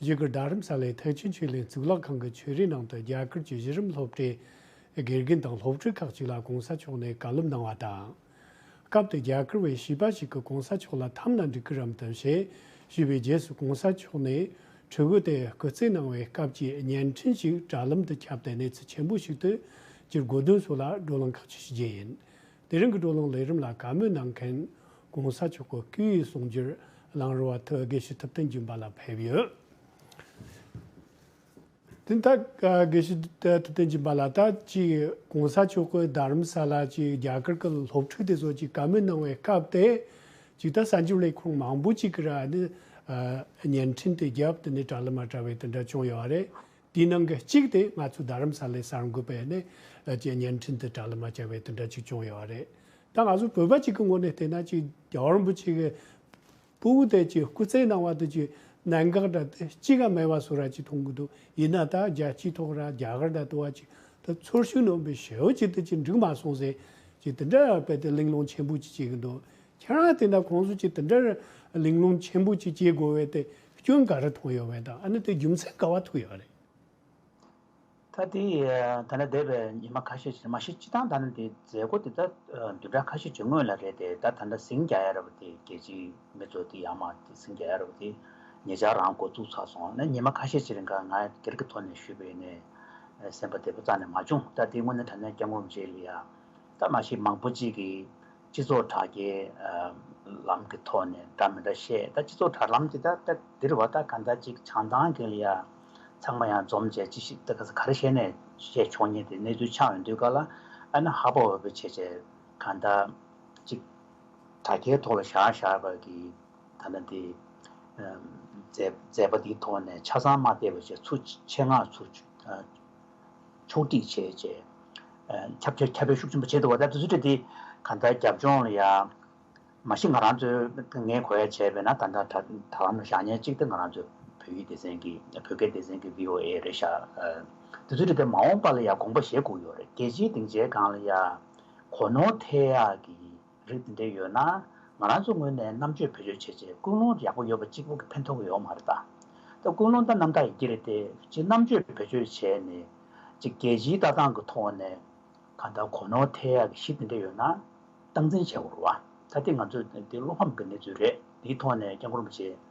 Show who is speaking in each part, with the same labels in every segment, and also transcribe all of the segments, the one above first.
Speaker 1: གཞིས་ཀར་རྡ་རམ་ས་ལའི་ཐའི་ཅུན་ཆོས་གླིང་གཙུག་ལག་ཁང་གི་ཆོས་རའི་ནང་དུ་རྒྱ་གར་གྱི་གཞི་རིམ་སློབ་གྲྭའི་དགེ་རྒན་དང་སློབ་ཕྲུག་ཁག་ཅིག་ལ་གོང་ས་མཆོག་ནས་བཀའ་སློབ་གནང་བ་དང། སྐབས་དེར་རྒྱ་གར་བའི་བྱིས་པ་ཞིག་གིས་གོང་ས་མཆོག་ལ་འཐམ་ན་འགྲིག་གི་རམ་དམ་ཞེས་ཞུས་པའི་རྗེས་སུ་གོང་ས་མཆོག་ནས་གྲོས་འགོ་དེ་སྐུ་རྩེ་གནང་བའི་སྐབས་ཀྱི་བརྙན་འཕྲིན་ཞིག་དྲ་ལམ་དུ་ཁྱབ་སྟེ་གནས་ཚུལ་ཆེན་པོ་ཞིག་ཏུ་གྱུར་སྒོ་དོན་སོགས་ལ་བགྲོ་གླེང་ཁག་ཅིག་ཞུ་རྒྱུ་ཡིན། དེ་རིང་གི་དཀྲོལ་སློང་ལས་རིམ་ལ་བཀའ་མོལ་གནང་མཁན ྋགོང་ས་མཆོག་གི་སྐུའི་གསུང་རྒྱུན་རླངས་རུ་བ་ཐོད་དགེ་བཤེས་ཐུབ་བསྟན་རྒྱུན་པ་ལ་ཕེབས་ཡོད། དེ་མཐའ་དགེ་བཤེས་ཐུབ་བསྟན་རྒྱུན་པ་ལ་ད་ཅིག ྋགོང་ས་མཆོག་གི་རྡ་རམ་ས་ལ་གྱི་རྒྱ་གར་གྱི་སློབ་ཕྲུག་དེ་ཚོ་གྱིས་བཀའ་མོལ་གནང་བའི་སྐབས་དེ་ཅིག་ད་གསར་འགྱུར་ལས་ཁུངས་མང་པོ་ཅིག་གིས་ར་ནི་བརྙན་འཕྲིན་དུ་རྒྱབ་དེ་ནས་དྲ་ལ་མ་དྲ་བའི་དེ་འདྲ་བྱུང་ཡོད་རེད། དེའི་ནང་གི་གཅིག་དེ་ང་ཚོའི་རྡ་རམ་ས་ལའི་གསར་འགོད་པས་ནས་ཀྱི་བརྙན་འཕྲིན་དུ་གྲ་ལི་མ་བྱ་བའི་དོན་དག་ཅིག་བྱུང་ཡོད་པ་རེད། ད་ང་ཚོ་བོད་པ་གཅིག་གི་ངོ་ནས་བལྟས་ན་ཅིག་རྒྱ་བ་རིན་པོ་ཆེ་གི་སྤུ་བོ་དེ་ཀྱི་སྐུ་ཚེའི་ནང་བ་དུ་ཅིག་གནད་འགག་འདྲ་དེ་གཅིག་ག་མེད་པ་སུ་ར་ཅིག་མཐོང་གི་འདུག་ཡིན་ན་ད་རྒྱལ་སྤྱིའི་ཐོག་ར་རྒྱ་གར་འདྲ་དུ་བ་ཅིག་དུ་ཚོར་ཤུགས་ནོན་པའི་ཞེའུ་ཅིག་དུ་ཅིག་འགྲིག་མ་སོང་ཟེར་ཅིག་དེ་འདྲ་ཡ་བལྟས་ལིང་ལོང་ཆེན་པོ་ཅིག་བྱེད་གི་འདུག་ཁྱེད་རང་དེ་འདྲ་ཁོང་ཚོ་གཅིག་དེ་འདྲར་གླེང་སློང་ཆེན་པོ་གཅིག་སྐྱེས་དགོས་བས་ཏེ་སྐྱོན་ག་རེ་མཐོང་ཡོད་བས་དང་ཨ་ནི་དེ་རྒྱུ་མཚན་ག་བ་ཐུག་ཡོད་རེད། ད་
Speaker 2: དེ་ད་ནི་འདས་པའི་ཉིན་མ་ཁ་ཤས་ཕྱིན་མ་གཞི་སྤྱི་སྟངས་ད་ནི་དེ་མཛད་སྒོ་དེ་ད་བདུན་ཕྲག་ཁ་ཤས་བྱུང་སྔོན་ལ་རེད་དེ་ད་ད་ནི་སིང་རྒྱ་ཡ་ར་བ་དེ་རྒྱལ་སྤྱིའི་མི་ཚོ་དེ་ཡང་མ་དེ་སིང་རྒྱ་ཡ་ར་བ་དེ་ངེད་ཅག་རང་འགོ་བཙུགས་ཚར་སོང་ན་ཉིན་མ་ཁ་ཤས་ཕྱི་རིང་ཁར་ང་སྒེར་གྱི་ཐོག་ནས་ཞུས་པའི་ནས་སེམས་པ་བདེ་པོ་རྩ་ནས་མ་བྱུང་ད་དེ་དངོས་གནས་ད་ནི་སྐྱབས་ངོམ་བྱེད་ལ་ཡ་ད་མ་གཞི་མང་པོ་གཅིག་གིས། སྤྱི་ཚོགས་དྲ་རྒྱའི་ལམ་གྱི་ཐོག་ནས་འདྲ་མི་འདྲ་བཤད་ད་སྤྱི་ཚོགས་དྲ་ལམ་གྱི་ད་ལྟ་འདིར་བ་ད་ག་ད་ཅིག་བྱང་ཐང་གི་ཡ་ཚང་མ་ཡང་འཛོམས་བྱས་ཅི་ཞིག་ད་ག་ས་ག་རེ་བཤད་ནས་བཤད་ཆོག་ཉེ་དེ་གནས་ཚུལ་ཆགས་ཡོང་དུས་ག་ལ་ཨ་ན་ཧ་པོ་ཧ་པོ་བྱས་བྱས་ག་ད་ཅིག་དྲ་རྒྱའི་ཐོག་ལ་ཞར་ཞར་བར་གྱི་ད་ལྟ་འདི་མཛད་པ་འདིའི་ཐོག་ནས་ཆ་ཚང་མ་བལྟས་པ་བྱས་ཚུ་ཆེད་མངགས་ཚུ། ཕྱོགས་སྒྲིག་བྱས། ཁྱབ་བྱེད་ཁྱབ་པའི་ཤུགས་ཆེན་པོ་བྱེད་འདུག་བ་དེ་ཚོ་ཚུད་དེ། གང་ལྟར་རྒྱབ་ལྗོངས་ལ་ཡང། མ་གཞི་ང་རང་ཚོས་ངའི་གོ་ཡ་བྱས་པས་ན་ད་ལྟ་དྲ་ལམ་ལ་ཞག་ཉེར་གཅིག་དེ་ང་རང་ཚོའི་བོད་ཡིག་སྡེ་ཚན་གྱི་བོད་སྐད་སྡེ་ཚན་གྱི VOA རེད་ཤག་དེ་ཚོ་ཚུད་དེ་མ་འོངས་པ་ལ་ཡང་དགོངས་པ་བཞེས་བསྒུགས་ཡོད་རེད་རྒྱལ་སྤྱིའི་སྡིངས་ཆའི་སྒང་ལ་ཡང། གོ་ནོར་ཐད་ཡག་གི། རིགས་འདེད་ཡོད་ན། ང་རང་ཚོ་ངོས་ནས་རྣམ་དཔྱོད་བེད་སྤྱོད་བྱས་རྗེས་ཀུན་སློང་ཡག་པོ་ཡོད་པ་གཅིག་པོ་གི་ཕན་ཐོགས་ཀྱི་ཡོང་མ་རེད་ད། ད་ཀུན་སློང་ད་རྣམ་དག་ཡི་གེ་རེད་དེ་གཅིག་རྣམ་དཔྱོད་བེད་སྤྱོད་བྱས་ནས། གཅིག་རྒྱལ་སྤྱིའི་ལྟ་སྟངས་ཀྱི་ཐོག་ནས། གང་ལྟར་གོ་ནོར་ཐེག་ཡག་གི་གཞི་དེ་འདྲ་ཡོད་ན། སྟངས་འཛིན་བྱེད་དགོས་རེད་བ། ད་དེ་ང་ཚོའི་དེ་སློབ་ཕམ་གྱི་གནས་ཚུལ་རེད་དེའི་ཐོག་ནས་སྐྱག་འཁུར་མི་བྱེད།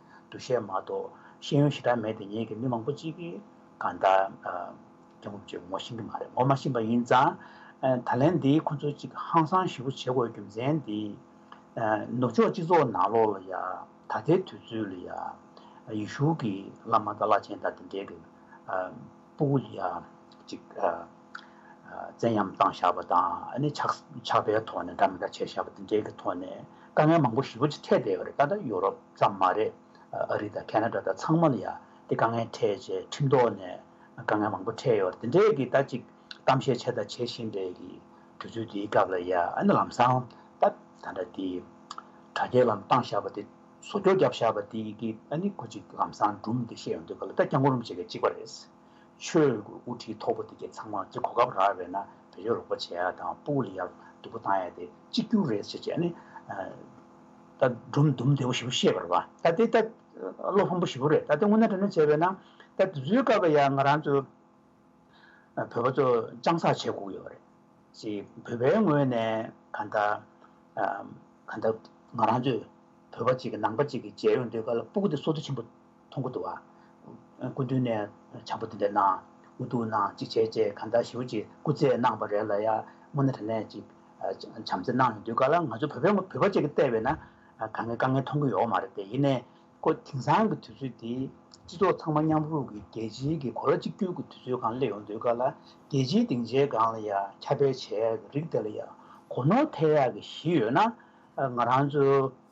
Speaker 2: འདུ་ཤེས་མ་གཏོགས་ཤེས་ཡོན་ཞེ་དྲག་མེད་དེ་ཉིད་ཀྱིས་མི་མང་པོ་གཅིག་གིས་གང་ལྟར་སྐྱབས་འགོག་བྱེད་ངོ་ཤེས་ཀྱི་མ་རེད་ངོ་མ་ཤེས་པ་ཡིན་ཙང་ད་ལན་འདི་ཁོ་ཚོ་གཅིག་ཧང་སང་ཞིག་པོ་བྱེད་དགོས་རྒྱུ་མཚན་འདི། ནུབ་ཕྱོགས་སྤྱི་ཚོགས་ནང་ལོགས་ལ་ཡང་ད་ལྟའི་དུས་ཚོད་ལ་ཡང་ཡེ་ཤུ་གྱི་བླ་མ་དང་བླ་ཆེན་དག་འདི་འདྲའི་གི་སྤུ་གུ་ལ་ཡང་གཅིག། བཙན་གཡེམ་བཏང་བཞག་པ་དང་ཆགས་པའི་ཐོག་ནས་འདྲ་མི་འདྲ་བྱས་བཞག་པ་དེ་འདྲའི་གི་ཐོག་ནས་དཀའ་ངལ་མང་པོ་ཞི་བ་ཅིག་འཕྲད་བསྡད་ཡོད་རེད་ད་ལྟ་ཡུ་རོབ་ཙམ་མ་རེད་ཨ་རི་དང་ཁེ་ན་ཏྲ་དང་ཚང་མ་ལ་ཡང་དེ་དཀའ་ངལ་འཕྲད་རྗེས་ཁྲིམས་ཐོག་ནས་དཀའ་ངལ་མང་པོ་འཕྲད་ཡོད་རེད་དེ་འདྲའི་གི་ད་ཅིག་གཏམ་བཤད་བྱས་དང་བྱེད་བཞིན་པའི་གི་དུས་ཚོད་དེའི་སྐབས་ལ་ཡང་ལམ་སང་ད་ད་འདྲ་དེ་དྲ་རྒྱའི་ལམ་བཏང་བཞག་པ་དེ་བཟོ་འཇོག་བརྒྱབ་བཞག་པ་དེ་གི་གོ་ཅིག་ལམ་སང་འབྲུམ་དེ་བཤད་ཡོང་དུས་ག་ལ་ད་སྐྱག་འགོ་རུམ་བྱེད་མཁན་གཅིག་པ་རེད། ཆོས་ལུགས་ཀྱི་དབུ་ཁྲིད་མཐོ་པོ་དེ་གས་ཚང་མ་ཀྱི་གོ་སྐབས་རག་བས་ན་བོད་ཡོ་རོགས་པོ་བྱས་ཡག་དང་པུའུ་ལི་ཡག་སྡུག་པོ་བཏང་ཡག་དེ་གཅིག་གྱུར་རེད་ཟེར་བྱས་ནི། ད་སྒྲུང་དུམ་བདེ་བོ་ཞིག་པོ་བཤད་པར་བ་ད་དེ་ད་བློ་བྷང་པོ་ཞིག་པོ་རེད་ད་དེ་སྔོན་ན་དྲན་ནོ་བྱས་བས་ན་ད་དེ་ཚོའི་སྐབས་ལ་ཡང་ང་རང་ཚོ་བོད་པ་ཚོ་སྤྱང་བསགས་བྱས་གུག་ཡོད་རེད་ཞེ་བོད་པའི་ངོས་ནས་ག་ད་ག་ད་ང་རང་ཚོས་བོད་པ་གཅིག་གི་ནང་པ་གཅིག་གི་མཇལ་ཡོང་འདོད་ག་ལ་པུའུ་དེ་སོ་སྡུག་ཆེན་པོ་མཐོང་གོ་འདུག་བ། སྐུ་མདུན་ནས་བྱང་བུ་འདི་འདྲ་གནང། འུ་ཐུག་གནང་ཅིག་བྱས་རྗེས་གང་ལྟར་ཞུ་ཅིག་སྐུ་ཚེ་གནང་བ་རེད་ལ་ཡར་སྔོན་ན་དྲ་གནས་ཅིག་བྱམས་བརྩེ་གནང་ཡོང་དུས་ག་ལ་ང་ཚོ་བོད་པའི་བོད་པ་བཅས་ཀྱི་བལྟས་བས་ན་ག་ངའི་དཀའ་ངལ་མཐོང་གི་ཡོག་མ་རེད་དེ་ཡིན་ནའི་ཁོ་དེང་སང་གི་དུས་ཚོད་འདི་སྤྱི་ཚོགས་ཚང་མ་མཉམ་རུབ་ཀྱི་རྒྱལ་སྤྱིའི་གི་གོ་ལ་གཅིག་གྱུར་གྱི་དུས་ཚོད་གང་སླེབས་ཡོང་དུས་ག་ལ་རྒྱལ་སྤྱིའི་སྡིངས་ཆའི་སྒང་ལ་ཡར་ཁྱབ་པའི་བྱས་ཡག་གི་རིགས་དེ་ལ་ཡར་གོ་ནོར་ཐེབས་ཡག་གི་གཞི་ཡོད་ན་ང་རང་ཚོའི།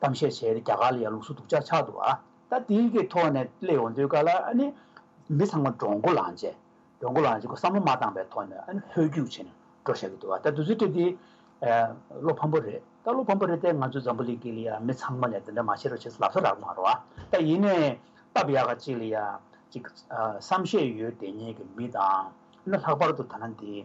Speaker 2: གཏམ་བཤད་བྱས་ཏེ་རྒྱ་གར་ལ་ཡང་ལུགས་སྲོལ་སྡུག་ཅག་ཆགས་འདུག་ཨ། ད་དེའི་གི་ཐོག་ནས་གླེང་ཡོང་དུས་ག་ལ་ཨ་ནི། མི་ཚང་མ་འགྲོ་འགོ་ལངས་རྗེས། འགྲོ་འགོ་ལངས་རྗེས་ཁོ་བསམ་བློ་མ་བཏང་པའི་ཐོག་ནས་ཨ་ནི་ཧོལ་རྒྱུགས་བྱས་ནས་འགྲོ་བཞག་གི་འདུག་ཨ། ད་དུས་ཚོད་དེ་དེ། བློ་ཕམ་པོ་རེད། ད་བློ་ཕམ་པོ་རེད་དེ་ང་ཚོའི་འཛམ་བུ་གླིང་གི་ལ་ཡང་མི་ཚང་མ་ལས་དེ་འདྲ་མ་བྱེད་རོགས་བྱས་ལབ་ས་རག་མ་རོགས་ཨ། ད་ཡིན་ནའི། སྟབས་ཡག་ག་ཅིག་ལ་ཡ། ཅིག། བསམ་ཤེས་ཡོད་དེ་ཉིད་ཀྱི་མི་དང། ཨ་ནི་ལྷག་པར་དུ་ཐ་ན་འདི།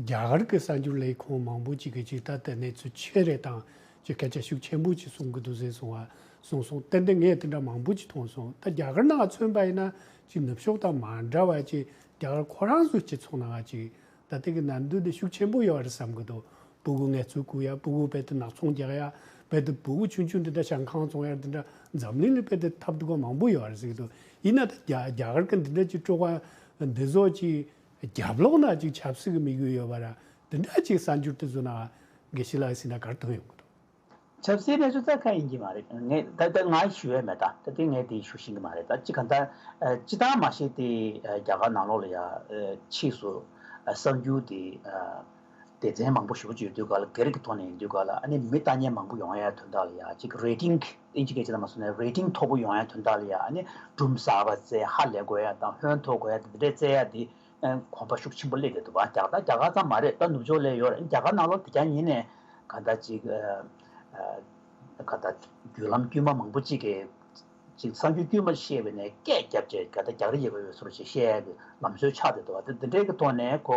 Speaker 1: རྒྱ་གར་གྱི་གསར་འགྱུར་ལས་ཁུངས་མང་པོ་ཅིག་གིས་ཇི་ལྟར་དེ་གནས་ཚུལ་ཆེ་རེ་དང་ཀྱི་སྐད་ཆ་ཤུགས་ཆེན་པོ་ཅིག་གསུང་གི་འདུག་ཟེར་སོང་བ་གསུངས་སོང་གཏན་དེ་ངས་དེ་འདྲ་མང་པོ་ཅིག་མཐོང་སོང་ད་རྒྱ་གར་ནང་མཚོན་པ་ཡིན་ན་ཅིག་ནུབ་ཕྱོགས་དང་མ་འདྲ་བ་ཅིག་རྒྱ་གར་ཁོ་རང་ཚོའི་སྤྱི་ཚོགས་ནང་ཅིག་ད་དེ་གི་ནར་འདུན་དེ་ཤུགས་ཆེན་པོ་ཡོད་རེད་བསམ་གི་འདུག་སྤུ་གུ་ངལ་རྩོལ་བསྐུར་ཡ་སྤུ་གུ་རྦད་དེ་ནག་ཚོང་རྒྱག་ཡ་རྦད་དེ་སྤུ་གུ་ཆུང་ཆུང་དེ་འདྲ་ཞང་ཁང་བཙོང་ཡ་དེ་འདྲ་འཛམ་གླིང་ལ་རྦད་དེ་ཐབས་སྡུག་པ་མང་པོ་ཡོད་རེད་ཟེར་གི་འདུག་ཡིན་ན་ད་རྒྱ་གར་གྱི་འདི་འདྲ་ཅིག་སྤྲོ་བ་འདི་ཟོ་ཅིག་རྒྱབ་ལོག་ན་ཅིག་ཆབ་སྲིད་ཀྱི་དམིགས་ཡུལ་ཡོད་པ་ར་འདི་འདྲ་ཅིག་གསར་འགྱུར་དུ་བཟོ་ན་དགེ་བཤེས་ལགས་སེམས་ན་གར་ཐོན་ཡོང་གི་འདུག། ཆབ་སྲིད་
Speaker 2: གནས་ཚུལ་རྩ་ཁ་ཡིན་གྱི་མ་རེད་ངས་ད་ང་ཞུ་ཡས་མེད་ད་ད་དེ་ངས་དེ་ཞུ་བཞིན་གྱི་མ་རེད་ད་ཅི་གང་ལྟར་སྤྱི་བཏང་མ་ཤེས་ཏེ་རྒྱ་གར་ནང་ལོག་ལ་ཡ་ཕྱིས་སུ་གསར་འགྱུར་དེ། སྡེ་ཚན་མང་པོ་ཞུགས་ཀྱི་ཡོད་དུས་ག་ལ་སྒེར་གྱི་ཐོག་ནས་ཡིན་དུས་ག་ལ་ཨ་ནི་མི་ལྟ་ཉན་མང་པོ་ཡོང་ཡ་དོན་དག་ལ་ཡ་གཅིག་རེ་ཏིང་ཏིང་གཅིག་གི་བྱེད་ལ་མ་བཟུང་ནས་རེ་ཏིང་མཐོ་པོ་ཡོང་ཡ་དོན་དག་ལ་ཡ་ཨ་ནི་སྦྲུམ་བཟའ་བ་བཙས་ཧ་ལས་དགོས་ཡ་དང་ཧོན་འཐོར་དགོས་ཡ་དེ་འདི་འདྲས་བཙས་ཡ་དེ་གོམ་པ་ཤུགས་ཆེན་པོ་སླེད་དེ་འདུག་བ་རྒྱག་ད་རྒྱ་གར་ཙམ་མ་རེད་ད་ནུབ་ཕྱོགས་ལས་ཡོད་རེད་རྒྱ་གར་ནང་ལོ་དེ་གྱ་ཉིན་ནས་ག་ད་གཅིག་ག་ད་བརྒྱུད་ལམ་དཀྱུས་མ་མང་པོ་གཅིག་གིས་གསར་འགྱུར་དཀྱུས་མ་བཤད་པའི་ནས་སྐད་རྒྱབ་ཅེས་ག་ད་རྒྱག་རེ་ཡོད་ག་ཡོད་སོ་རེ་ཞེས་བཤད་ཡ་གི་ལམ་སྲོལ་ཆགས་བསྡད་འདུག་བ་དེ་འདི་འདྲས་ཀྱི་ཐོག་ནས་ཁོ་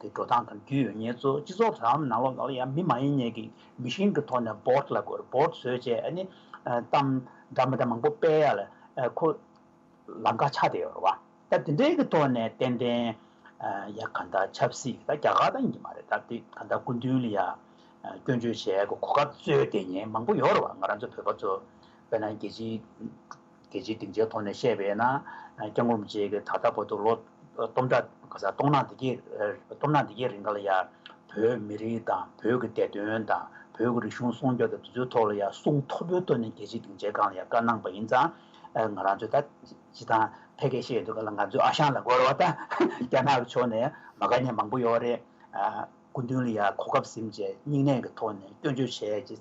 Speaker 2: དེ་འགྲོ་སྟངས་དང་རྒྱུས་ཡོད་ངེས་གཙོ་སྤྱི་ཚོགས་དོ་དམ་ནང་ལོག་ལ་ཡང་མི་མ་ཡིན་ངེས་ཀྱི་མི་ཤིང་གི་ཐོག་ནས་བོད་ལ་གོར་བོད་བཟོས་བཅས་ནི་གཏམ་འདྲ་མི་འདྲ་མང་པོ་སྤེལ་ཡ་ལ་ཁོ་ལ་འགག་ཆགས་དེ་ཡོད་རེད་བ་ད་དེ་འདྲའི་གི་ཐོག་ནས་ཏན་ཏན་ཡ་ག་ད་ཆབ་སྲིད་ད་རྒྱ་གར་ད་ཡིན་གྱི་མ་རེད་ད་དེ་ག་ད་སྐུ་མདུན་ལ་ཡ་སྐྱོན་བརྗོད་བྱས་གོ་ག་བཙོས་དེ་ཉེན་མང་པོ་ཡོད་རེད་བ་ང་རང་ཚོ་བོད་པ་ཚོ་བོད་ནང་རྒྱལ་སྤྱིའི། རྒྱལ་སྤྱིའི་སྡིངས་ཆའི་ཐོག་ནས་བཤད་པས་ན། སྐྱབས་མགོན་པོ་ཆེ་གིས་ད་ལྟ་བར་དུ་ལོ་སྟོང་ཕྲག་ག་ས་སྟོང་ནག་དེ་གའི་སྟོང་ནག་དེ་གའི་རིང་ལ་ཡང། བོད་མི་རིགས་དང་བོད་ཀྱི་བདེ་དོན་དང་བོད་ཀྱི་རིག་གཞུང་སྲུང་སྐྱོབ་དང་དེ་ཚོའི་ཐོག་ལ་ཡང་གསུང་མཐོ་པོའི་སྟོན་ནས་རྒྱལ་སྤྱིའི་སྡིངས་ཆའི་སྒང་ལ་ཡང་བཀའ་གནང་བ་ཡིན་ཙང། ང་རང་ཚོས་ད་ཅི་ཐང་ཐད་ཀའི་བཤད་ཡོད་འདུག་ག་ལ་ང་ཚོའི་ཨ་ཞང་ལ་རྒོལ་བ་དང་རྒྱ་ནག་གི་ཕྱོགས་ནས་མ་དགའ་ཉེས་མང་པོ་ཡོད་རེད། སྐུ་མདུན་ལ་ཡང་གོ་སྐབས་ཟིན་རྗེས་སྙིང་ནད་ཀྱི་ཐོག་ནས་སྐྱོན་བརྗོད་བྱས་རྗེས་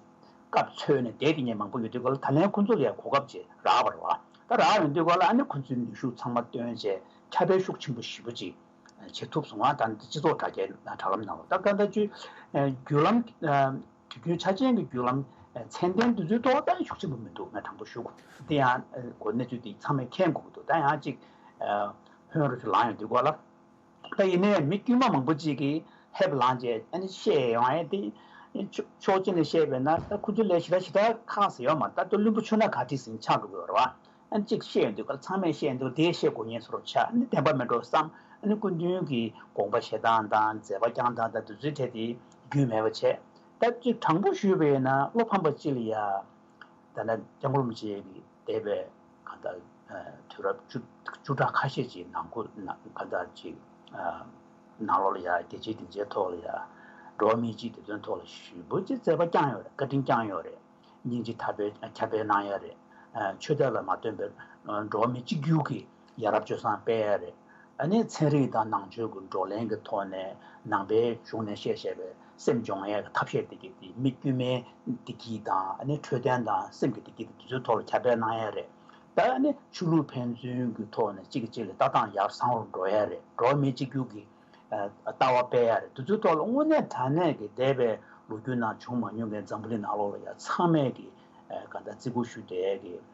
Speaker 2: སྐབས་འཚོལ་ནས་བསྡད་དེ་ཉེ་མང་པོ་ཡོད་དུས་གོ་ལ་ད་ལན་ཁོ་ཚོ་ལ་ཡང་གོ་སྐབས་རྗེས་རག་པར་རོ། ད་རག་ཡོང་དུས་གོ་ལ་ཨ་ནི་ཁོ་ཚོའི་ནུས་ཤུགས་ཚང་མ་བཏོན་རྗེས་ཁྱབ་སྤེལ་ཤུགས་ཆེན་པོ་ཞི་བོ་ཅིག་བྱེད་ཐུབ་སོང་ང་ད་ནི་སྤྱི་ཚོགས་དྲ་རྒྱའི་དྲ་ལམ་ནང་ལོ་ལྟར་ཟླ་བཅུའི་བརྒྱུད་ལམ་དུས་རྒྱུན་ཆ་ཅན་གྱི་བརྒྱུད་ལམ་ཚན་ལྡན་བསྡུ་ཚུལ་ཐོག་ལྟ་ཡི་ཤུགས་ཆེན་པོ་མི་འདུག་ང་དྲང་པོ་ཞུ་གོ་དེ་ཡང་གོ་གནས་ཚུལ་དེ་ཚང་མས་མཁྱེན་དགོས་ཀྱི་འདུག་ད་ཡང་གཅིག་བྷོན་རུ་ཆུ་ལངས་ཡོང་དུས་གོ་ལ། ད་ཡིན་ནའི་མི་དཀྱུས་མ་མང་པོ་ཅིག་གིས་ཧེབ་ལངས་བྱས་ནས་བཤད་ཡོང་ཨེ་ཏེ། ཕྱོགས་གཅིག་ནས་བཤད་པས་ན་ད་ཁོ་ཚོའི་ལས་བྱེད་ད་ཞིག་ད་ཁ་ཟེར་ཡོང་མ་ད་ལྟ་བླུན་པོ་ཆུ་སྣ་ག་དྲི་ཟིན་ཆགས་འགྲོ་གི་ཡོད་རེད་བ། གཅིག་བཤད་ཡོང་དུས་ཀ་ཚང་མས་བཤད་འདུག་དེ་བཤད་དགོས་ངེས་སོ་རུ་ཆགས་འདི་བདེན་པ་མིན་འགྲོ་བསམ། སྐུ་མདུན་གྱི་དགོངས་པ་བཞེས་སྟངས་དང་མཛད་པ་བསྐྱངས་སྟངས་དང་དུས་ཚོད་འཕྲད་དེ་རྒྱུས་མེད་པ་བྱས། ད་གཅིག་དྲང་པོ་ཞུས་པས་ན་བློ་ཕམ་པ་ཅི་ལ་ཡ། ད་ནི་རྒྱ་མགོ་རུམ་བྱེད་ཀྱི། འདས་པའི་གང་ཟླ་དུས་རབས་བཅུ་ཕྲག་ཁ་ཤས་ཀྱི་ནང་གོ་གང་ཟླ་གཅིག་ནང་ལོགས་ལ་ཡང་རྒྱལ་སྤྱིའི་སྡིངས་ཆའི་ཐོག་ལ་ཡང་འགྲོ་བ་མིའི་སྤྱིའི་བདེ་དོན་ཐོག་ལ་ཞུ་འབོད་ཀྱི་བརྩད་པ་བསྐྱངས་ཡོད་རེད་བཀའ་དྲིན་བསྐྱངས་ཡོད་རེད། སྙིང་རྗེ་ཁྱབ་སྤེལ་གནང་ཡས་རེད། ཆོས་དད་ལ་མ་བརྟེན་པའི་འགྲོ་བ་མི་གཅིག་གྱུར་གྱི་ཡ་རབས་སྤྱོད་བཟང་དཔེ་ཡག་རེད། ཨ་ནེ་ཚན་རིག་དང་ནང་ཆོས་ཀྱི་བགྲོ་གླེང་གི་ཐོག་ནས་ནང་པའི་གཞུང་ནས་བཤད་བཤད་པའི་སེམས་འཇོག་མཁན་གྱི་ཐབས་ཤེས་བདེ་སྐྱིད་དེ་མི་དཀྱུས་མའི་བདེ་སྐྱིད་དང་ཨ་ནེ་འཕྲོད་བསྟེན་དང་སེམས་ཀྱི་བདེ་སྐྱིད་དེ་ཚོའི་ཐོག་ལ་ཁྱབ་སྤེལ་གནང་ཡ་རེད། ད་ཨ་ནེ་ཆོས་ལུགས་ཕན་ཚུན་གྱི་ཐོག་ནས་གཅིག་གིས་གཅིག་ལ་ལྟ་སྟངས་ཡར་བཟང་རུ་འགྲོ་ཡ་རེད་འགྲོ་མིའི་གཅིག་གྱུར་གྱི་ལྟ་བ་སྤེལ་ཡ་རེད་དེ་ཚོའི་ཐོག་ལ་དངོས་གནས་དྲ་གནས་ཀྱི་འདས་པའི་ལོ་རྒྱུས་ནང་བྱུང་མ་མྱོང་མཁན་འཛམ་བུ་གླིང་ནང་ལོགས་ལ་ཡ་ཚང་མས་ཀྱི་ག་ད་བརྩི་བཀུར་ཞུ་བདེ་སྐྱིད།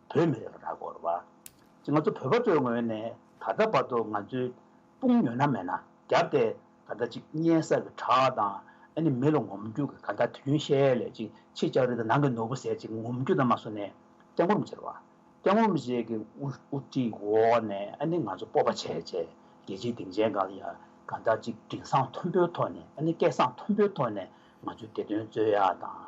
Speaker 2: བོད་མི་རེ་བ་ར་གོར་བ། ང་ཚོ་བོད་པ་ཚོའི་ངོས་ནས་ད་ལྟ་བར་དུ་ང་ཚོའི་དཔུང་ཉོ་ན་མེད་ན་རྒྱབ་སྟེ་ད་ལྟ་ཅིག་གཉན་གསར་གྱི་བྲག་དང་ཨ་ནི་མི་ལ་ངོམ་རྒྱུ་གི་ག་ད་དུན་ཤལ་ལས་ཅིག་ཕྱི་ལྕགས་རི་དང་ནང་གི་ནོར་བུ་ཟེར་ཅིག་ངོམ་རྒྱུ་ད་མ་སོ་ནས་སྐྱ་ངོམ་བྱེད་ར་བ། སྐྱ་ངོམ་བྱེད་ཀྱི་དབུ་ཁྲིད་འོག་ནས་ཨ་ནི་ང་ཚོ་སྤོབས་པ་ཆེ་ཆེ་རྒྱལ་སྤྱིའི་སྡིངས་ཆའི་ག་ལ་ཡ་ག་ད་ཅིག་དྲིན་བཟང་མཐོན་པོའི་ཐོག་ནས་ཨ་ནི་སྐད་བཟང་མཐོན་པོའི་ཐོག་ནས་ང་ཚོའི་བདེ་དོན་རྩོད་ཡ་དང།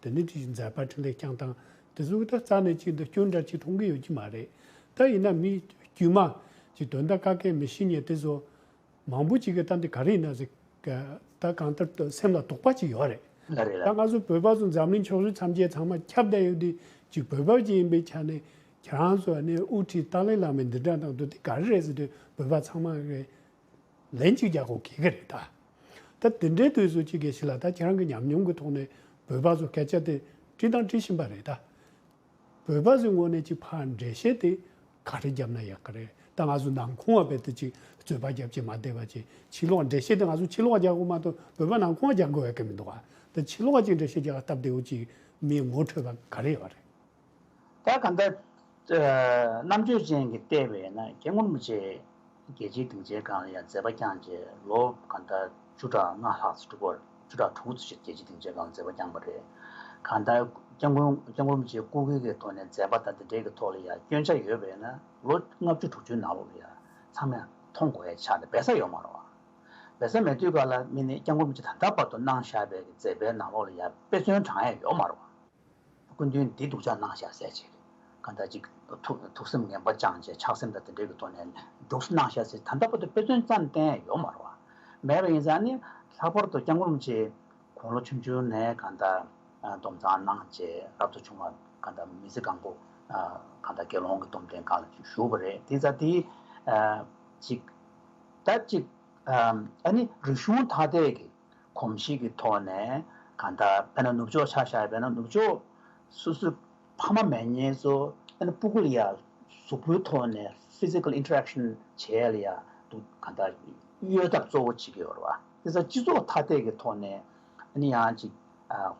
Speaker 1: དེ་ནི་དེ་བཞིན་མཛད་པར་ཕྲིན་ལས་བསྐྱངས་སྟངས་དེ་གཟུགས་ད་རྩ་ནས་གཅིག་འདི་སྐྱོན་འདྲ་གཅིག་མཐོང་གི་ཡོད་ཀྱི་མ་རེད་ད་ཡིན་ན་མི་དཀྱུས་མ་གྱི་དོན་དག་ཀ་ཀའི་མི་ཤེས་ཉེས་དེ་བཟོ། མང་པོ་གཅིག་གི་ད་འདི་ག་རེ་ཡིན་ན་ཟིག། ད་གང་ལྟར་དུ་སེམས་ལ་དོགས་པ་གཅིག་ཡོད་རེད། ད་སྔ་སུ་བོད་པ་སུ་འཛམ་གླིང་ཕྱོགས་རིས་ཐམས་ཅད་ཚང་མ་ཁྱབ་བརྡལ་ཡོད་དུས་གཅིག་བོད་པ་གཅིག་ཡིན་པའི་ཆ་ནས་ཁྱེད་རང་ཚོ་ནས་དབུ་ཁྲིད་ཏཱ་ལའི་བླ་མས་འདི་འདྲ་གནང་དུས་འདི་ག་རེ་རེད་ཟེར་དུས་བོད་པ་ཚང་མ་རེད། ལན་གཅིག་རྒྱག་དགོས་གལ་གི་རེད་ད། ད་དེ་འདྲའི་དུས་སུ་ཅི་དགོས་ཞིག་ལ་ད་ཁྱེད་རང་གི་ཉམས་མྱོང་གི་ཐོག་ནས་བོད་པ་ཚོ་སྐད་ཆ་དེ་དྲིས་དང་དྲི་བཞིན་པ་རེད་ད། བོད་པ་ཚོའི་ངོ་ནས་ཅིག་ཕར་འགྲེལ་བཤད་དེ་ག་རེ་བརྒྱབ་ན་ཡག་གི་རེད་ད་ང་ཚོ་ནང་ཁུང་བ་བེད་དུ་ཅིག་རྩོད་པ་རྒྱབ་ཀྱི་མ་བསྡད་པ་ཅིག་ཕྱི་ལོག་འགྲེལ་བཤད་དེ་ང་ཚོ་ཕྱི་ལོག་རྒྱག་དགོས་མ་གཏོགས་བོད་པ་ནང་ཁུང་བ་རྒྱག་དགོས་ཡག་གི་མི་འདུག་ད་ཕྱི་ལོག་ཅིག་འགྲེལ་བཤད་རྒྱག་སྟབས་བདེ་བོ་ཅིག་མིའི་ངོ་འཕྲོད་པ་ག་རེ་ཡོད་རེད། ད་ག་
Speaker 2: འདྲ། རྣམ་དཔྱོད་ཅན་གྱི་ལྟས་བས་ན་སྐྱེ་ངོར་མི་བྱེད། རྒྱལ་སྤྱིའི་སྡིངས་ཆའི་སྒང་ལ་ཡང་མཛད་པ་བསྐྱངས་རྗེས་ལོ་ག་འདྲ་བཅུ་ཕྲག་ལྔ་ལྷག་ཚེ་དྲུག་བར་བཅུ་ཕྲག་དྲུག་ཚོ་ཕྱིར་རྒྱལ་སྤྱིའི་སྡིངས་ཆའི་སྒང་ལ་མཛད་པ་བསྐྱངས་པ་རེད། ག་འདྲ། སྐྱེ་ངོར་མི་བྱེད་ཀུ་གེ་གེའི་ཐོག་ནས་མཛད་པ་དང་དེ་འདྲའི་གི་ཐོག་ལ་ཡང་སྐྱོན་ཆ་ཡོད་བས་ན་ལོ་ལྔ་བཅུ་དྲུག་ཅུའི་ནང་ལོགས་ལ་ཡང་ཚང་མས་མཐོང་དགོས་ཡ་ཆགས་ནས་སྦས་ས་ཡོད་མ་རོགས། སྦས་ས་མེད་དུས་ག་ལ་མི་ནི་སྐྱེ་ངོར་མི་བྱེད་ད་ལྟ་བར་དུ་གནང་བཞག་པའི་གི་མཛད་པའི་ནང་ལོགས་ལ་ཡང་དཔེ་མཚོན་བགྲང་ཡ་ཡོད་མ་རོགས། སྐུ་མདུན་བདེ་སྡུག་ཆགས་སྣང་ཤ་ཟད་བྱེད། གང་ལྟར་གཅིག། ཐུགས་སེམས་ངན་པ་སྦྱངས་བྱས་ཆགས་སེམས་དང་དེ་འབྲེལ་གྱི་ཐོག་ནས་སྡུག་སྣང་ཤ་ཟད་ད་ལྟ་བར་དུ་དཔེ་མཚོན་ཙམ་བསྟན་ཡོད་མ་རུང། མེད་པ་ཡིན་ཙང་ནི་ལྷག་པར་དུ་སྐྱབས་འགྲོམ་ཆེ། གོང་ལོ་ཆུང་ཆུང་ནས་གང་ལྟར་སྡོམ་གཙང་གནང་རྗེས་རབ་ཏུ་བྱུང་བ་གང་ལྟར་མི་ཚེ་གང་པོ་གང་ལྟར་དགེ་སློང་གི་སྡོམ་ལྡན་ཁང་ལ་བཞུགས་པ་རེད་དེ་ཙང་དེའི་གཅིག། ད་གཅིག། ཨ་ནི་རིག་གཞུང་ཐ་དད་ཀྱི་གོམས་གཤིས་ཀྱི་ཐོག་ནས་ག་ད་བལྟ་ན་ནུབ་ཕྱོགས་ཆ་བཞག་བལྟ་ན་ནུབ་ཕྱོགས་སོ་སོའི་ཕ་མ་མེས་ཉེས་ཚོ་བལྟ་ན་སྤུ་གུ་ལ་ཡ་གཟུགས་པོའི་ཐོག་ནས Physical Interaction བྱས་ལ་ཡ་འདུག་ག་ད་གཡོལ་ཐབས་གཙོ་བོ་བྱེད་ཀྱི་ཡོད་རེད་བ། དེ་ས་སྤྱི་ཚོགས་ཐ་དད་ཀྱི་ཐོག་ནས་ཨ་ནི་ཡང་ཅིག་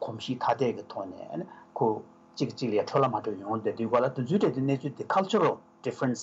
Speaker 2: གོམས་གཤིས་ཐ་དད་ཀྱི་ཐོག་ནས་ཨ་ནི་ཁོ་གཅིག་གིས་གཅིག་ལ་ཡ་འཕྲོད་ལ་མ་འཕྲོད་ཡོང་བལྟ་དུས་གོ་ལ་དུས་ཚོད་དེ་ནས་ཚུལ་དེ Cultural Difference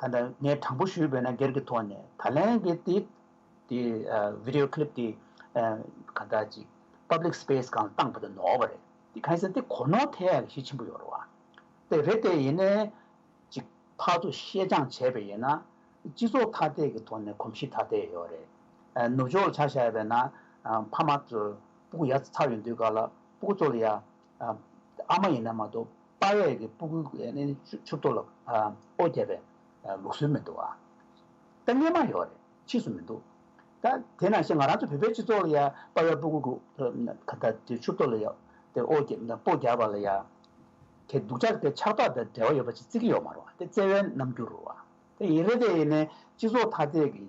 Speaker 2: ད་ལྟ་ངས་དྲང་པོ་ཞུས་འོས་ན་སྒེར་གྱི་ཐོག་ནས་ད་ལན་གྱི་དེ་དེ Video Clip དེ་ག་ལྟར་ཅིག Public Space གང་ལ་བཏང་བ་དེ་ནོར་བ་རེད་དེ་གང་ཟེར་དེ་གོ་ནོར་ཐལ་གྱི་གཞི་ཆེན་པོ་ཡོད་རེད་བ། དེ་རེད་དེ་ཡིན་ནའི་ཅིག་ཕར་ཚུར་བཤད་སྦྱང་བྱས་པས་ཡིན་ན་སྤྱི་ཚོགས་ཐ་དད་ཀྱི་ཐོག་ནས་གོམས་གཤིས་ཐ་དད་ཡོད་རེད། ནུབ་ཕྱོགས་ལ་ཆ་བཞག་པས་ན་ཕ་མ་ཚོས་སྤུ་གུ་ཡ་ཚ་ཡོད་དུས་ག་ལ་སྤུ་གུ་ཚོ་ལ་ཡ་ཨ་མ་ཡིན་ན་མ་གཏོགས་དཔའ་བས་ཀྱི་སྤུ་གུའི་ཕྱུགས་ཐོག་ལ་ཨོ་རྒྱབ་པའི་ལུགས་སྲོལ་མི་འདུག་ཨ། ད་སྙན་མ་ཡོག་རེད་ཕྱིས་སུ་མི་འདུག་ད། དེ་ནང་བཞིན་ང་རང་ཚོ་བོད་པའི་སྤྱི་ཚོགས་ལ་ཡང་དཔའ་བའི་སྤུ་གུ་ཕྱུགས་ཐོག་ལ་ཡང་ཨོ་རྒྱབ་པ་ལ་ཡང་དེ་སྡུག་ཅག་དེ་ཆགས་ཐོག་དང་འབྲེལ་བ་ཡོད་པ་ཅིག་བརྩི་གི་ཡོག་མ་རུང་ཨ་དེ་བརྩེ་བའི་རྣམ་འགྱུར་རུང་ཨ། དེ་ཡིན་རེད་དེ་ཡིན་ནའི་སྤྱི་ཚོགས་ཐ་དད་ཀྱི་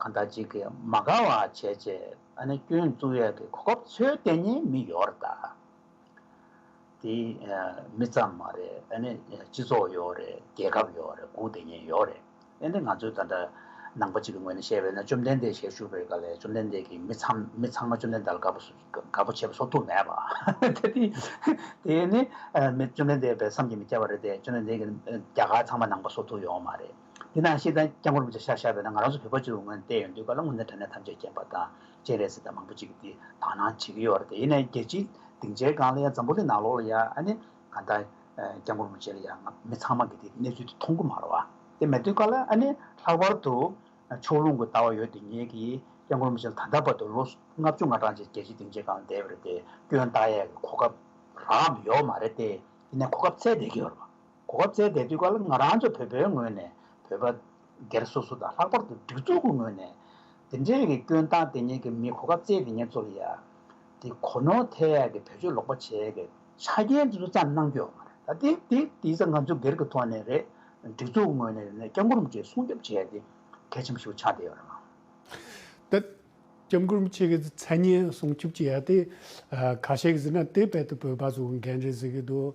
Speaker 2: གང་དག་ཅིག་གིས་མ་དགའ་བ་བྱས་རྗེས་ཨ་ནི་སྐྱོན་བཙུགས་ཡས་ཀྱི་གོ་སྐབས་འཚོལ་དེ་ནི་མི་ཡོར་ད། དེ་མི་ཙམ་མ་རེད་ཨ་ནི་སྤྱི་ཚོགས་ཡོར་རེད་རྒྱལ་ཁབ་ཡོར་རེད་དགུ་དེ་ནི་ཡོར་རེད་ཨ་ནི་ང་ཚོས་ད་ལྟ་ནང་པ་ཅིག་གི་ངོས་ནས་བཤད་པས་ན་བཅོམ་ལྡན་འདས་ཞལ་བཞུགས་པའི་སྐབས་ལས་བཅོམ་ལྡན་འདས་ཀྱིས་མི་ཚང་མི་ཚང་མ་བཅོམ་ལྡན་འདས་ལ་དགའ་པོ་དགའ་པོ་བྱེད་པ་སོགས་ཐུགས་མེད་པ་དེ་དེ་དེ་ནི་མི་བཅོམ་ལྡན་འདས་པའི་བསམ་གྱིས་མི་ཁྱབ་པ་རེད་དེ་བཅོམ་ལྡན་འདས་ཀྱིས་རྒྱ་གར་ཚང་མ་ནང་པ་སོགས་ཐུགས་ཡོང་བ་མ་རེད། དེ་ན་ཤེས་ལྡན་སྐྱབས་མགོན་རིན་པོ་ཆེ་ཤར་ཤར་བས་ན་ང་རང་ཚོ་བོད་པ་ཚོའི་ངོས་ནས་བལྟས་ཡོང་དུས་བཀའ་སློབ་དངོས་གནས་དྲ་གནས་ཐམས་ཅད་རྐྱེན་པ་དང་བཅས་རེད་ཟེར་ཐབས་མང་པོ་ཅིག་གིས་དག་སྣང་བྱེད་ཀྱི་ཡོད་རེད་དེ་ནས་རྒྱལ་སྤྱིའི་སྡིངས་ཆའི་སྒང་ལ་ཡང་འཛམ་བུ་གླིང་ནང་ལོགས་ལ་ཡང་ཨ་ནེ་ག་འདའ་སྐྱབས་མགོན་རིན་པོ་ཆེ་ལ་ཡང་ང་མི་ཚང་མ་གིས་དེ་གནས་ཚུལ་དེ་མཐོང་གི་མ་རེད་བ། དེ་མེད་དུས་ཀ་ལ་ཨ་ནེ་ལྷག་པར་དུ་ཕྱོགས་ལྷུང་གི་ལྟ་བ་ཡོད་དེ་ངེད་ཀྱིས་སྐྱབས་མགོན་རིན་པོ་ཆེ་ལ་ད་ལྟ་བར་དུ་ལོ་ལྔ་བཅུ་ང་གྲངས་ཅིག་རྒྱལ་སྤྱིའི་སྡིངས་ཆའི་སྒང་ལ་བསྡད་ཡོད་རེད་དེ་སྐྱོན་བརྟག་ཡས་ཀྱི་གོ་སྐབས་རག་གམ་ཡོད་མ་རེད་དེ་དེ་ནས་གོ་སྐབས་ཚད་བསྡད་ཀྱི་ཡོད་རེད་བ། གོ་སྐབས་བཙལ་བསྡད་དུས་ཀར་ང་རང་ཚོ་བོད་པའི་ངོས་ནས་བོད་པ་སྒེར་སོ་སོ་དང་ལྷག་པར་དུ་སྒྲིག་འཛུགས་ཀྱི་ངོས་ནས། འདི་འདྲའི་རིགས་ཀྱི་སྐྱོན་བཏང་དེ་ཉིད་ཀྱི་མི་གོ་སྐབས་བཙལ་དེ་ཉིད་གཙོ་ལི་ཡ། དེ་གོ་ནོར་ཐལ་ཡག་གི་བེད་སྤྱོད་ལོག་པ་བྱས་ཀྱི། ཆ་རྐྱེན་འདི་ཚོ་ཙམ་གནང་རྒྱུ། ད་དེ་དེ་དེ་ཚོ་ང་ཚོ་སྒེར་གྱི་ཐོག་ནས་རེད། སྒྲིག་འཛུགས་ཀྱི་ངོས་ནས་རེད་ན་སྐྱབས་མགོ་རུམ་བཅས་སྲུང་སྐྱོབ་བྱས་ཏེ་གལ་ཆེན་པོ་ཞིག་ཆགས་བསྡད་ཡོད་རེད།
Speaker 1: ད་སྐྱབས་མགོ་རུམ་བཅས་ཀྱི་མཚན་སྙན་སྲུང་སྐྱོབ་བྱས་ཡ་དེ། ཁ་ཤས་ཀྱིས་ཟེར་ན་དེ་བེད་དུ་བོད་པ་ཚོ་འགན་རེད་ཟེར་གྱི་འདུག་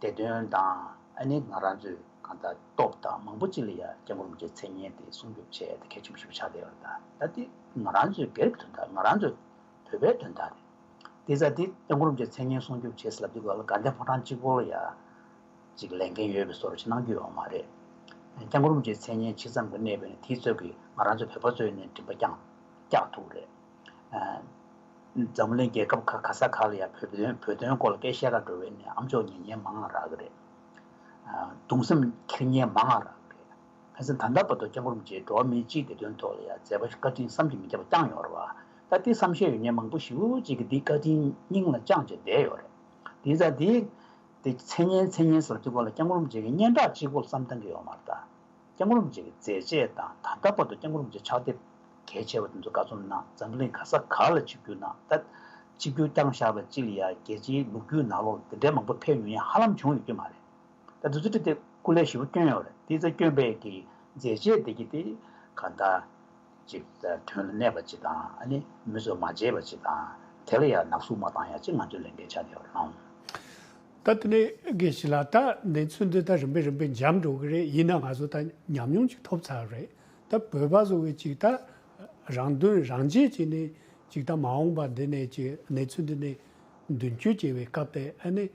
Speaker 2: དེ་དོན་དང་ཨ་ནེ་ང་རང་ཚོས་གང་ལྟར་སྟོབས་དང་མང་པོ་ཅི་ལ་ཡ་སྐྱབས་འགོམ་གྱི་མཚན་སྙན་དེ་སྲུང་སྐྱོབ་བྱས་ཏེ་གལ་ཆེན་པོ་ཞིག་ཆགས་བསྡད་པ་རེད། ད་འདི་ང་རང་ཚོའི་སྒེར་གྱི་དོན་དག་ང་རང་ཚོའི་བོད་པའི་དོན་དག་རེད། དེ་ཚ་འདི་སྐྱབས་འགོམ་གྱི་མཚན་སྙན་སྲུང་སྐྱོབ་བྱས་ཟིན་ལབ་དུས་ག་ལ་དགའ་ལྡན་ཕོ་བྲང་གཅིག་པོ་ལ་ཡ་གཅིག་ལས་འགན་ཡོད་པའི་བཟོ་རུ་ཅི་གནང་རྒྱུ་ཡོད་མ་རེད། སྐྱབས་འགོམ་གྱི་མཚན་སྙན་ཇི་ཙམ་གྱི་གནས་པས་ན་དེའི་ཚོད་ཀྱིས་ང་རང་ཚོ་བོད་པ་ཚོའི་ནས་མགྲིན་པ་རྐྱང་རྐྱག་ཐུག་རེད། འཛམ་གླིང་རྒྱལ་ཁབ་ཁག་ག་ས་ག་ལ་ཡང་བོད་དོན་བོད་དོན་སྐོར་ལ་སྐད་བཤད་ཁ་འགྲོ་བའི་ནས་ཨམ་ཅོག་ཉེ་ཉེ་མ་ང་རག་གི་རེད། གདུང་སེམས་ཁེར་ཉེ་མ་ང་རག་གི་རེད། ཕན་ཚུན་ད་ལྟ་བར་དུ་སྤྱང་ཀུ་རུམ་བཅས་འགྲོ་བ་མི་གཅིག་བདེ་དོན་ཐོག་ལ་ཡང་མཛད་པ་བཀའ་དྲིན་བསམ་གྱིས་མི་ཁྱབ་པ་བསྐྱངས་ཡོང་རེད། ད་ལྟའི་བསམ་བཞིན་ཡོད་ཉེས་མང་པོ་ཞིག་བུ་གཅིག་གིས་འདི་བཀའ་དྲིན་སྙིང་ལ་བཅངས་བྱས་བསྡད་ཡོད་རེད། དེ་ཚ་དེ། མཚན་སྙན་མཚན་སྙན་ཟེར་བ་དེ་སྐོར་ལ་སྤྱང་ཀུ་རུམ་བཅས་ཀྱིས་སྙན་གྲགས་གཅིག་པོ་ལ་བསམ་གཏང་གི་ཡོད་མ་རེད། སྐྱག་རོམ་བཅས་ཀྱི་མཛད་རྗེས་དང་ད་ལྟ་བར་དུ་སྐྱག་རོམ་བཅས་ཕྱག་དེབ་གལ་ཆེ་བ་དེ་ཚོ་ག་ཚོད་ནང་འཛམ་གླིང་ག་ས་ག་ལ་གཅིག་གྱུར་ནང་ད་གཅིག་གྱུར་རྐྱང་བཞག་ལ་ཅི་ལ་ཡ་རྒྱལ་སྤྱིའི་ལུག་རྒྱུད་ནག་ལོག་ལ་དེ་འདྲའི་མང་པོ་ཕེབས་མྱོང་ཡང་ཧ་ལམ་བྱུང་ཡོད་ཀྱི་མ་རེད། ད་དེ་ཚོ་བྲིས་ཏེ་སྐུ་ལས་ཞི་བ་བསྐྱོན་ཡོང་རེད་དེ་ཚོ་བསྐྱོན་པའི་གི་མཛད་རྗེས་དེ་ཀྱི་དེ་ག་ད། ཅིག། དོན་ལ་གནས་པ་ཅིག་དང་ནི་མི་སོ་མ་བརྗེད་པ་ཅིག་དང། དེ་ལ་ཡང་ནག་སུག་མ་བཏང་ཡང་ཅིག་ང་ཚོས་ལས་འགན་ཆགས་བསྡད་པར་སྣང། ད་
Speaker 1: དེ་ནས་གལ་ཆེ་ལ་ད་ནས་ཚུལ་འདི་ད་རིམ་པས་རིམ་པས་འཇམ་འགྲོ་གི་རེད་ཡིན་ན་ང་ཚོ་ད་ཉམས་མྱོང་ཅིག་ཐོབ་ཚར་བ་རེད་ད་བོད་པ་བཟོ་བའི་ཅིག་ད་རང་དོན་རང་གཅེས་བྱས་ནས་ཅིག་ད་མ་འོངས་པ་འདི་ནས་ཅིག་གནས་ཚུལ་འདི་ནས་མདུན་བསྐྱོད་བྱེད་པའི་སྐབས་དེ་ནས་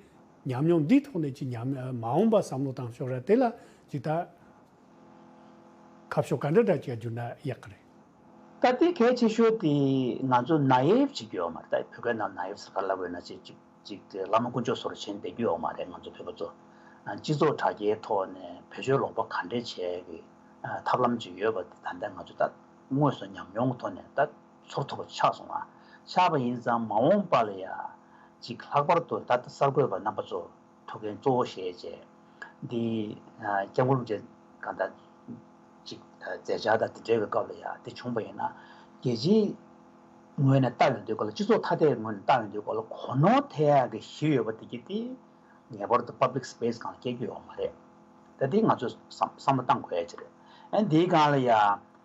Speaker 1: ཉམས་མྱོང་འདིའི་ཐོག་ནས་ཅིག་ཉམས་མ་འོངས་པ་བསམ་བློ་བཏང་ཤོག་ར་དེ་ལ་ཅིག་ད། ཁ་ཕྱོགས་ག་འདྲ་འདྲ་བྱས་རྒྱུ་ན་ཡག་གི་རེད། ད་ལྟའི་གལ་
Speaker 2: ཆེ་ཤོས་དེ་ང་ཚོ naive བྱེད་རྒྱུ་ཡོད་མ་རེད་ད་བོད་སྐད་ནང naive ཟེར་ག་ལ་དགོས་ན་ཅིག་ཅིག་དེ་བླ་མ་དཀོན་མཆོག་ཟུར་ཆེན་བསྡད་རྒྱུ་ཡོད་མ་རེད་ང་ཚོ་བོད་པ་ཚོ་སྤྱི་ཚོགས་དྲ་རྒྱའི་ཐོག་ནས་བེད་སྤྱོད་ལོག་པ་ག་འདྲས་བྱས་ཀྱི་ཐབས་ལམ་ཅིག་ཡོད་པ་དེ་ད་ལྟ་ང་ཚོ་ད་དངོས་སུ་ཉམས་མྱོང་གི་ཐོག་ནས་ད་ཚོར་ཐུབ་པ་ཆགས་སོང་ཨ་ཆགས་པ་ཡིན་ཙང་མ་འོངས་པ་ལ་ཡ་ཅིག་ལྷག་པར་དུ་ད་ལྟ་གསར་འགོད་པ་རྣམ་པ་ཚོ་ཐུགས་མཁྱེན་གཙོ་བོ་ཞེས་བཅས། འདི་སྐྱབས་མགོན་རྗེ་གང་དག་ཅིག། མཛད་འཆར་དང་དེ་འབྲེལ་བའི་སྐབས་ལ་ཡང་དེ་བྱུང་བ་ཡིན་ན། རྒྱལ་སྤྱིའི་ངོས་ནས་ལྟ་འོས་འདོད་སྐོར་ལ་སྤྱི་ཚོགས་ཐ་དད་ངོས་ནས་ལྟ་འོས་འདོད་སྐོར་ལ་གོ་ནོར་དེ་ཡང་གི་ཞིག་ཡོད་པ་དེ་གྱིས་དེ་ངེས་པར་དུ Public Space གང་ལ་སྐྱེལ་རྒྱུ་ཡོད་མ་རེད། ད་དེ་ང་ཚོས་བསམ་བློ་བཏང་དགོས་ཡ་ཅིག་རེད། ཨན་དེའི་སྒང་ལ་ཡང།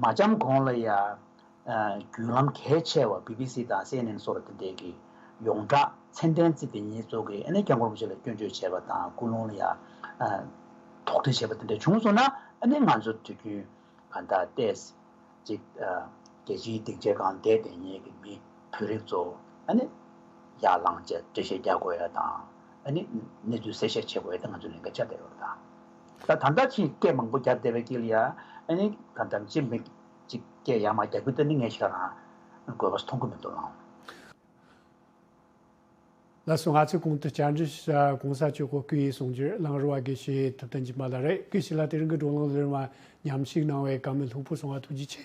Speaker 2: མ་འཁྱམས་གོང་ལ་ཡང་བརྒྱུད་ལམ་གལ་ཆེ་བ་བྷི་བྷི་སི་དང་སི་ཨེན་ཨེན་སོགས་ལ་དེ་འབྲེལ་གྱི་ཡོངས་བསྒྲགས་མཚན་གཏན་བརྩིས་ཏེ་ཉེས་གསོག་གིས་ཨ་ནེ་རྒྱ་འཁོར་པོ་ཆེ་ལ་སྐྱོན་བརྗོད་བྱས་པ་དང་སྐུལ་སློང་ལ་ཡང་དོགས་འདྲི་བྱས་པ་དེ་འདྲ་བྱུང་སོང་ན་ཨ་ནེ་ང་ཚོ་དུས་རྒྱུན་གང་དག་ལྟས་ཅིག་རྒྱལ་སྤྱིའི་སྡིག་ཆས་གང་བདེ་བདེན་གཉེར་གྱི་མི་བུ་རིགས་ཚོ་ཨ་ནེ་ཡར་ལངས་བཅས་འགྲེལ་བཤད་རྒྱག་དགོས་ཡ་དང་ཨ་ནེ་གནས་ཚུལ་གསལ་བཤད་བྱེད་དགོས་ཡ་དེ་ང་ཚོས་ལས་འགན་ཆ་ལྡན་ཡོད་པ་དང། ད་ད་ལྟ་ཅི་སྐད་མང་པོ་རྒྱབ་བསྡད་པའི་སྐད་ལ་ཡ་ཨ་ནི་ད་འདམ་ཅི་མིག་ཅིག་སྐད་ཡ་མ་རྒྱག་གི་ད་ནི་ངས་ཤག་རང་དགོས་པ་མཐོང་གི་མི་འདུག་ལགས།
Speaker 1: ལ་སོ་ང་ཚོས་གོང་དུ་བསྐྱར་འབྲི་བྱས་པ་གོང་ས་མཆོད་སྐོར་སྐུ་ཡིས་གསུངས་རྒྱུར་གླང་རུ་བ་དགེ་བཤེས་ཐུབ་བསྟན་གྱི་མ་ལ་རེ་སྐུལ་བྱས་ལ་དེ་རིང་གི་བགྲོ་གླེང་ལོའི་མ་ཉམས་ཞིག་གནང་བའི་དགའ་མོས་ལྷུག་པོ་སོང་བ་ཐུགས་རྗེ་ཆེ།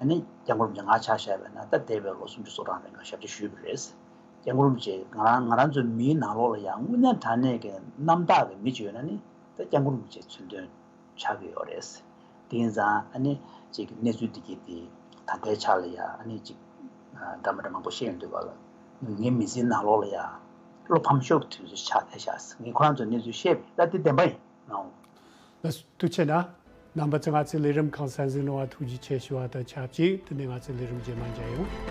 Speaker 2: ཨ་ནི་རྒྱ་མགོ་རུམ་གྱིས་ང་ཆ་བཞག་པའི་ནང་ད་འདས་པའི་ལོ་སུམ་ཅུ་སོ་གྲངས་རིང་ང་ཞབས་ཕྱི་ཞུས་པ་རེད། རྒྱ་མགོ་རུམ་གྱིས་ང་རང་ང་རང་ཚོའི་མིའི་ནང་ལོགས་ལ་ཡང་དངོས་གནས་དྲང་གནས་ཀྱི་རྣམ་དག་གི་མི་བྱོས་ན་ནི་ད་རྒྱ་མགོ་རུམ་གྱིས་མཚོན་དོན་ཆགས་ཀྱི་ཡོད་རེད། དེ་ཡིན་ཙང་ཨ་ནི་གཅིག་གི་གནས་ཚུལ་འདི་སྐད་དེ་ད་ལྟའི་ཆ་ལ་ཡང་ཨ་ནི་གཅིག་འདྲ་མི་འདྲ་མང་པོ་བཤད་འདོད་པ་ལ་ངའི་མི་ཚེའི་ནང་ལོགས་ལ་ཡང་བློ་ཕམ་ཤོར་གྱི་དུས་ཚོད་ཆགས་ཐལ་ཤགས་ངས་ཁོ་རང་ཚོར་གནས་ཚུལ་བཤད་པའི་བླ་དེ་བདེན་པ་ཡིན་ནའོ། ལ་དུ་
Speaker 1: ཆེ་ན། རྣམ་པ་ཙི་ང་ཙི་ལས་རིམ་གང་གསལ་འཛིན་རུང་བ་ཐུགས་རྗེ་ཆེ་ཞུ་བ་དང་ཆབས་ཅིག་དེ་ནས་ང་ཙི་ལས་རིམ་རྗེས་མ་མཇལ་ཡོང།